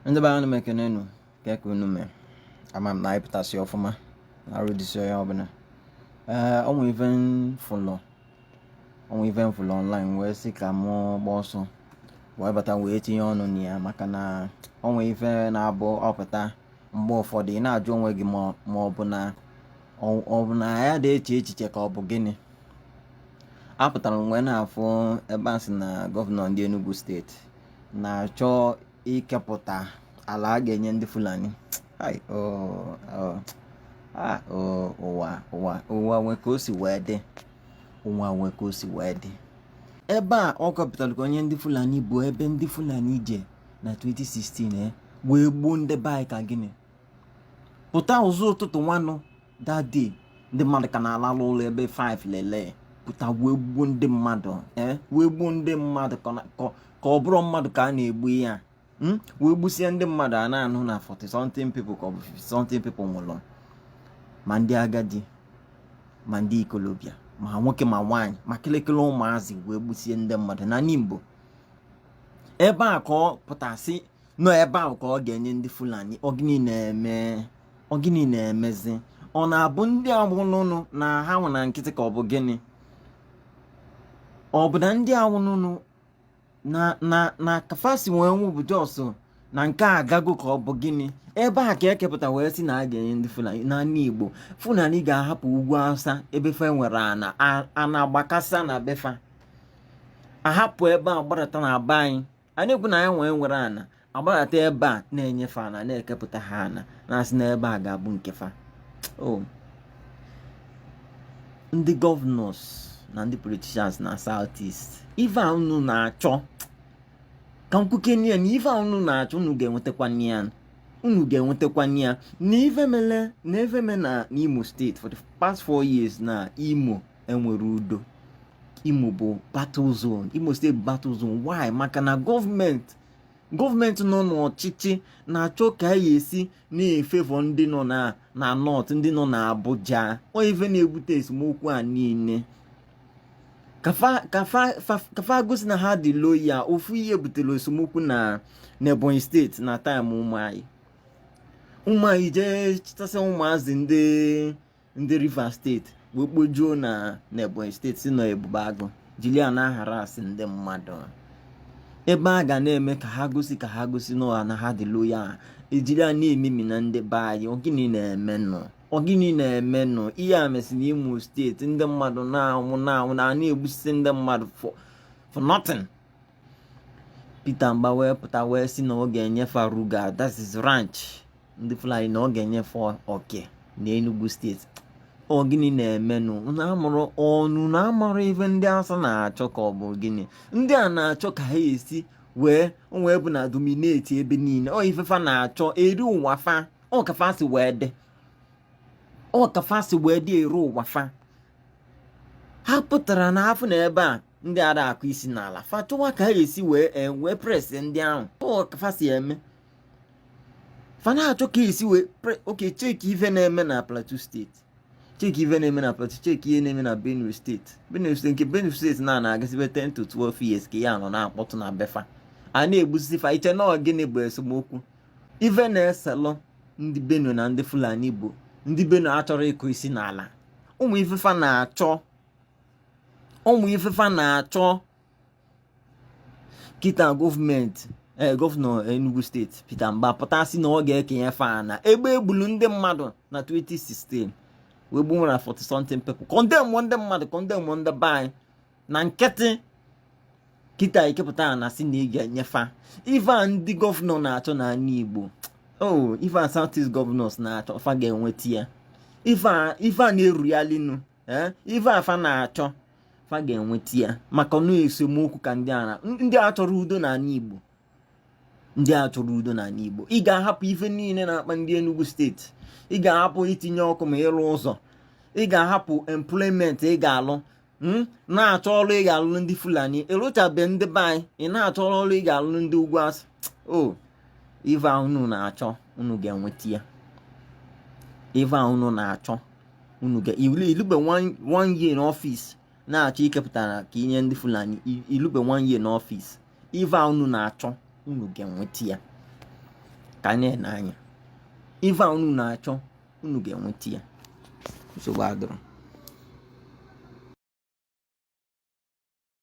ndị be anyị m ekene unu kee ka unu mee ama m na anyị pụtasị ọfụma na arụ dịsị onye ọbụla ee o nwe ive m fụlụ o nwe ive m fụlụ ọnlaịn wee sị ka mụ gba ọsọ wee bata wee tinye ọnụ na ya maka na o nwe ive na-abụ ọ pụta mgbe ụfọdụ ị na-ajụ onwe gị ma ọ bụ na ọ bụ na anyị adị eche echiche ka ọ bụ gịnị apụtara m wee na-afụ ebe a sị na gọvanọ ndị Enugu steeti na-achọ ikepụta ala a ga-enye ndị Fulani o wee o wee nwee ka o si wee dị o wee nwee ka o si wee dị ebe a ọ kapụtara ka o nye ndị Fulani bụ ebe ndị Fulani je na 2016 eh, wee gbuo ndị be anyị ka gịnị pụta ụzọ ụtụtụ nwanụ that day ndị mmadụ ka na-alalụ ụla ebe 5 lelee pụta wee gbuo ndị mmadụ eh, wee gbuo ndị mmadụ ka ọ bụrọ mmadụ ka a na-egbu ya hmm? wee gbusie ndị mmadụ a na-anụ na 40 something people ka ọ bụ 50 something people nwụrụ ma ndị agadi ma ndị ikolobịa ma nwoke ma nwaanyị ma kịlịkịlị ụmụazị wee gbusie ndị mmadụ na Nimbo ebe a ka ọ pụta sị na ọ ebe ahụ ka ọ ga-enye ndị fulani ọ gịnị na-eme ọ gịnị na-emezi ọ na-abụ ndị a nwụnụnụ na ha nwụ na nkịtị ka ọ bụ gịnị ọ bụ na ndị a nwụnụnụ na na na ka fa si wee nwụ bụ just na nke a agago ka ọ bụ gịnị ebe a ka e kepụta wee sị na a ga-enye ndị fulani n'ani igbo fulani ga-ahapụ ugwu awụsa ebe fa nwere ana ana agbakasa na be fa ahapụ ebe a gbadata na be anyị a na-ekwu na anyị enwe enwerọ ana agbadata ebe a na-enye fa ana na-ekepụta ha ana na-asị na ebe a ga-abụ nke fa oh. ndị gọvanọs na ndị politishans na south east ife a unu na-achọ ka m kwukene ya na ife a unu na-achọ unu ga-enwetakwana ya unu ga-enwetakwana ya na ife mele na ife me na n'imo steeti for the past four years na imo enwerọ udo imo bụ battle zone imo steeti bụ battle zone why maka na gọọmenti gọọmenti nọ n'ọchịchị na-achọ ka a ya-esi na-efevọ ndị nọ na nọt ndị nọ na abuja ọ ive na-ebute esemokwu a niile ka fa gosi na ha dị loya ofu ihe butere esemokwu na n'ebonyi steeti na taịm ụmụ anyị ụmụ anyị jee chịtasị ụmụazị ndị ndị Rivers steeti wee kpojuo na n'Ebonyi steeti sị na ọ Ebube Agụ jiri ya na-aharasị ndị mmadụ ive a ka a na-eme ka ha gosi ka ha gosi n'ụwa na ha dị loya e jiri ya na-ememina ndị be anyị ọ gịnị na-emenụ ọ gịnị na-emenụ ihe a mesị na imo steeti ndị mmadụ na-anwụ na-anwụ na a na-egbusisi ndị mmadụ for nothing Peter Mba wee pụta wee si na ọ ga-enye fa Ruga that is ranch ndị Fulani na ọ ga-enye fa oke na Enugu steeti ọ gịnị na-emenụ unu na-amarọ ife ndị Awụsa na-achọ ka ọ bụ gịnị ndị a na-achọ ka ha esi wee wee bụ na domineti ebe niile ọ ife fa na-achọ eri ụwa fa ọ ka fa si wee dị ọ ka fa si wee dị eri ụwa fa ha pụtara na-afụ na ebe a ndị ada akụ isi n'ala fa chọwa ka ha esi wee e, wee oppress ndị ahụ ka fa si eme fa na-achọ ka esi wee okay cheki ife na-eme na plateau steeti cheki ife na-eme na plateau cheki ihe na-eme na benue steeti benue steeti nke benue steeti na na-agasibe 10 to 12 years ka ya nọ na-akpọtụ na be fa a na-egbusisi fa i che na gịnị bụ esemokwu ife na-eselụ ndị benue na ndị fulani bụ ndị benue achọrọ ịkụ isi n'ala ime ife fa na-achọ ime ife fa na-achọ kịta gọọmenti ee eh, gọvanọ Enugu steeti Peter Mba pụta si na ọ ga-ekenye fa na ebe e gbulu ndị mmadụ na 2016 wee gbuo over 40 something people kọndemụ ndị mmadụ kọndemụ ndị be anyị na nkịtị kịta i kepụta na-asị na ị ga-enye fa ive a ndị gọvanọ na-achọ n'ala Igbo oh ive a south east gọvanọs na-achọ fa ga-enweta ya ive a na-erughalinu ee ife a fa na-achọ fa ga-enweta ya maka na ọ esemokwu ka ndị a ndị a achọrọ udo n'ala Igbo ndị a achọrọ udo n'ala Igbo ị ga-ahapụ ife niile na-akpa ndị Enugu steeti ị ga-ahapụ itinye ọkụ ma ịrụ ụzọ ị ga-ahapụ employment ị ga-alụ Hmm? na-achọ ọrụ ị ga-alụrụ ndị fulani ị rụchabe ndị be anyị ị na-achọ ọrụ ị ga-alụrụ ndị ugwu Awụsa oh, ive unu na-achọ unu ga-enweta ya ive unu na-achọ unu ga i lube one year n'ọfịs na-achọ ikepụta ala ka i nye ndị fulani i lube one year n'ọfịs ive a unu na-achọ unu ga-enweta ya ka anyị na-ene anya ive a unu na-achọ unu ga-enweta ya nsogbu adịrọ